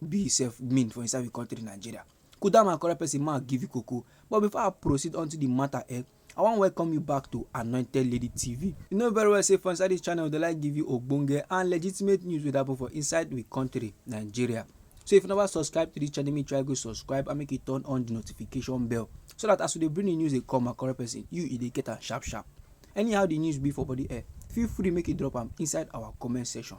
be sef mean for inside we country Nigeria. Kudama correct person man give you koko. But before I proceed onto the matter eh, I wan welcome you back to Anointed Lady TV. You know very well say for inside this channel we dey like give you ogbonge and legitimate news wey dey happen for inside we country Nigeria. So if you never subscribe to this channel, make you try go subscribe and make you turn on the notification bell so that as we dey bring the news dey come my correct person, you e dey get am sharp sharp. Anyhow the news be for body eh, feel free make you drop am inside our comment section.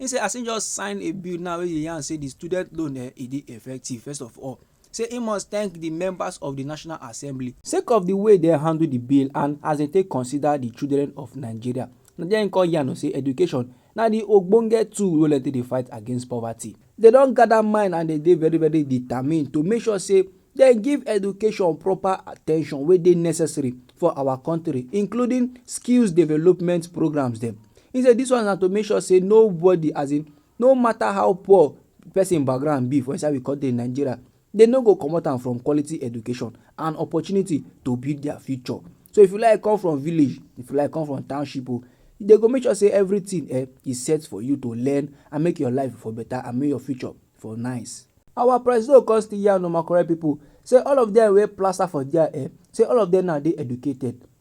He say as he just sign a bill now wey dey yarn say the student loan eh, e dey effective first of all, say he must thank the members of the National Assembly. Sake of the way dem handle the bill and as dem take consider the children of Nigeria, na there he come yarn o say education na the ogbonge tool wey dem take dey fight against poverty. Dem don gather mind and dem dey very very determined to make sure say dem give education proper attention wey dey necessary for our country including skills development programs dem. He say this one na to make sure say nobody as in no matter how poor person background be for inside we country Nigeria Dem no go comot am from quality education and opportunity to build their future. So if you like come from village, if you like come from township o, dem go make sure sey everything um e set for you to learn and make your life for better and make your future for nice. Our presido come still yarn o my correct people sey all of dem wey plaster for there um sey all of dem now dey educated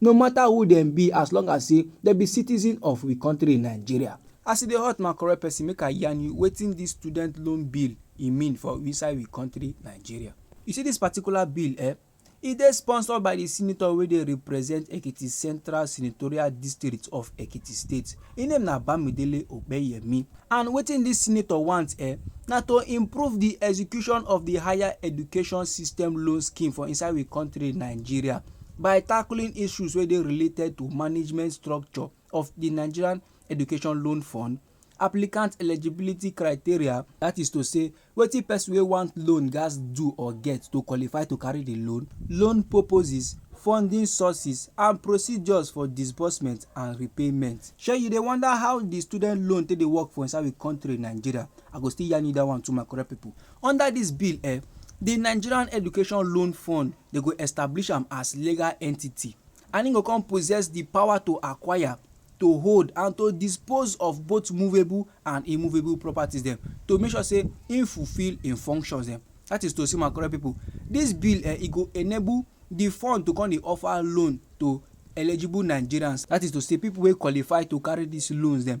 No matter who dem be as long as say dem be citizen of we country Nigeria. As e dey hot my correct person make I yarn you wetin this student loan bill e mean for inside we country Nigeria. You see this particular bill eh, e dey sponsored by the senator wey dey represent Ekiti central senatorial district of Ekiti state, e name na Bamidele Opeyemi and wetin this senator want eh na to improve the execution of the higher education system loan scheme for inside we country Nigeria. by tackling issues wey dey related to management structure of di Nigerian Education Loan Fund, applicant eligibility criteria, that is to say wetin person wey want loan gats do or get to qualify to carry di loan, loan purposes, funding sources and procedures for disbursement and repayment. Shey you dey wonder how di student loan take dey work for inside we country Nigeria, I go still yarn you that one too my correct people. Under dis bill um di Nigerian Education Loan Fund Dem go establish am as legal entity and im go come possess di power to acquire, to hold and to dispose of both movable and immovable properties dem to make sure say im fulfil im functions dem. Dat is to say, my correct pipo, dis bill eh, e go enable di fund to come dey offer loan to eligible Nigerians. Dat is to say, pipo wey qualify to carry dis loans dem.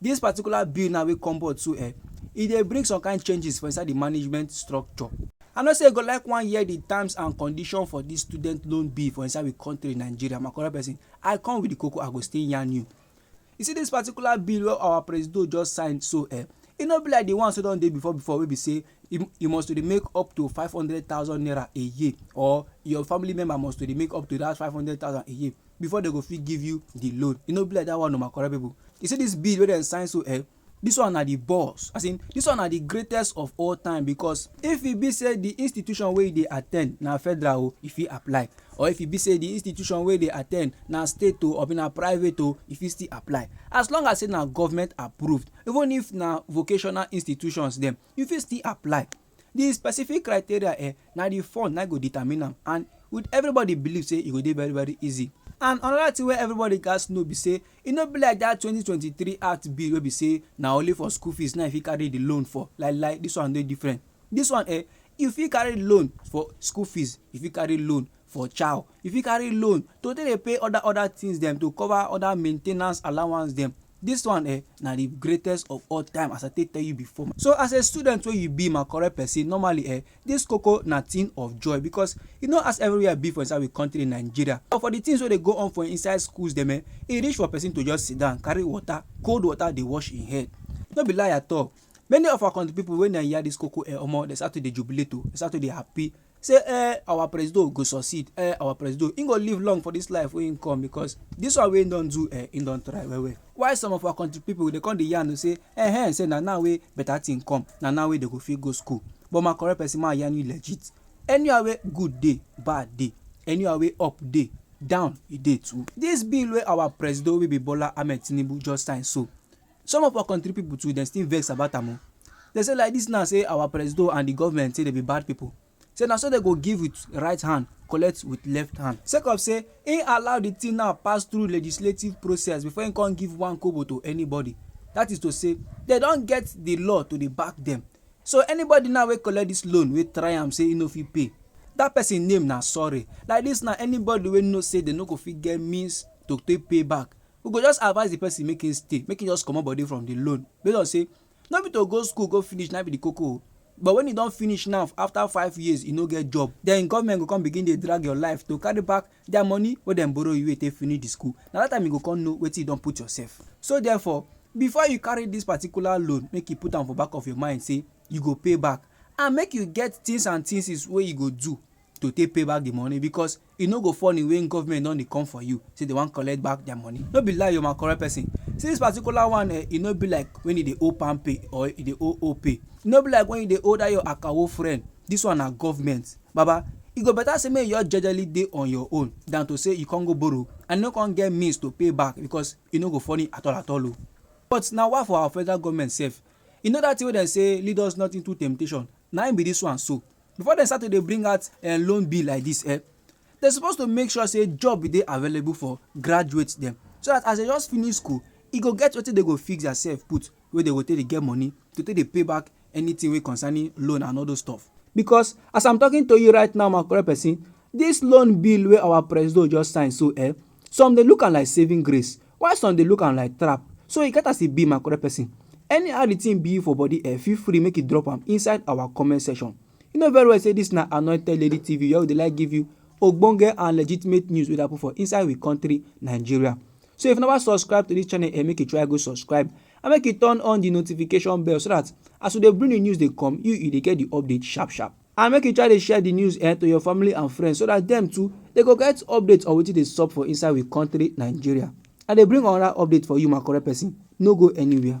Dis particular bill now wey come board so eh, e dey bring some kind changes for inside di management structure. I know sey you go like wan hear di terms and condition for dis student loan bill for inside we country Nigeria, my correct person, I come with di koko I go still yarn you. You see dis particular bill wey our presido just sign so eh, e no be like di ones wey don dey before before wey be sey you must to dey make up to five hundred thousand naira a year or your family member must to dey make up to dat five hundred thousand a year. before dem go fit give you the loan. E no be like that one o my correct people. You see this bill wey dem sign so eh, this one na the boss as in this one na the greatest of all time because if e be say the institution wey you dey attend na federal o, you fit apply or if e be say the institution wey you dey attend na state o or na private o, you fit still apply as long as say na government approved even if na vocational institutions dem, you fit still apply. the specific criteria eh, na the fund na go determine am and with everybody believe say e go dey very very easy and another thing wey everybody gats know be say e no be like that 2023 act bill wey be say na only for school fees na you fit carry the loan for like like this one dey different this one eh you fit carry loan for school fees you fit carry loan for chow, you fit carry loan to take dey pay other other things dem to cover other maintenance allowance dem. This one eh na the greatest of all time as I take tell you before. So as a student wey you be my correct person normally eh this koko na thing of joy because e no as everywhere be for inside we country Nigeria but for the things wey dey go on for inside schools dem eh e reach for person to just sit down carry water cold water dey wash im head no be lie at all many of our country people when dem hear this koko eh omo dem start to dey jubilate o dem start to dey happy say eh our presido go succeed eh our presido he go live long for this life wey he come because this one wey he don do eh he don try well well why some of our country people dey come dey yarn say eh eh say na now wey better thing come na now wey they go fit go school but my correct person ma yarn you legit anywhere wey good dey bad dey anywhere wey up dey down e dey too this bill wey our presido wey be bola ahmed tinubu just sign so Some of our kontri pipo too dem still vex about am o. Dem say like dis now say our presido and di govment say dem be bad pipo, say na so dem go give wit right hand collect wit left hand. Sake of say im allow di tin now pass through legislative process before im come give one kobo to anybody, dat is to say dem don get di law to dey back dem. So anybody now wey collect dis loan wey try am say im no fit pay, dat pesin name na sorry. Like dis now anybody wey know say dem no go fit get means to take pay back We go just advise the person make him stay, make him just comot body from the loan based on say no be to go school go finish na be the koko o. But when you don finish now after five years you no get job, then government go come begin dey drag your life to carry back their money wey dem borrow you wey you take finish the school. Na that time you go come know wetin you don put yourself. So therefore, before you carry this particular loan, make you put am for back of your mind say you go pay back and make you get things and things's wey you go do to take pay back the money because e no go funny when government don dey come for you say they wan collect back their money no be lie o my correct person see this particular one eh e no be like when you dey owe palmpay or you dey owe opay e no be like when you dey owe that your akawo friend this one na government baba e go better say make you just jejely dey on your own than to say you come go borrow and you no come get means to pay back because e no go funny at all at all o but na why for our federal government sef you know that thing wey dem say lead us not into temptation na im be this one so before dem start to dey bring out eh, loan bill like this eh, dem suppose to make sure say job dey available for graduate dem so that as dem just finish school e go get wetin dem go fix theirself put wey dem go take dey get money to take dey pay back anything wey concerning loan and all those stuff. because as i'm talking to you right now my correct person this loan bill wey our presido just sign so eh some dey look am like saving grace Why some dey look am like trap? So e get as e be my correct person. Anyhow the thing be you for body eh, feel free make you drop am inside our comment section. You know very well say this na Anointed Lady TV where we dey like give you ogbonge and legitimate news wey dey happen for inside we country Nigeria. So if you never subscribe to this channel eh, make you try go subscribe and make you turn on the notification bell so that as we dey bring the news dey come, you you dey get the update sharp sharp. And make you try dey share the news eh, to your family and friends so that them too they go get updates on wetin dey sup for inside we country Nigeria. I dey bring another update for you my correct person, no go anywhere.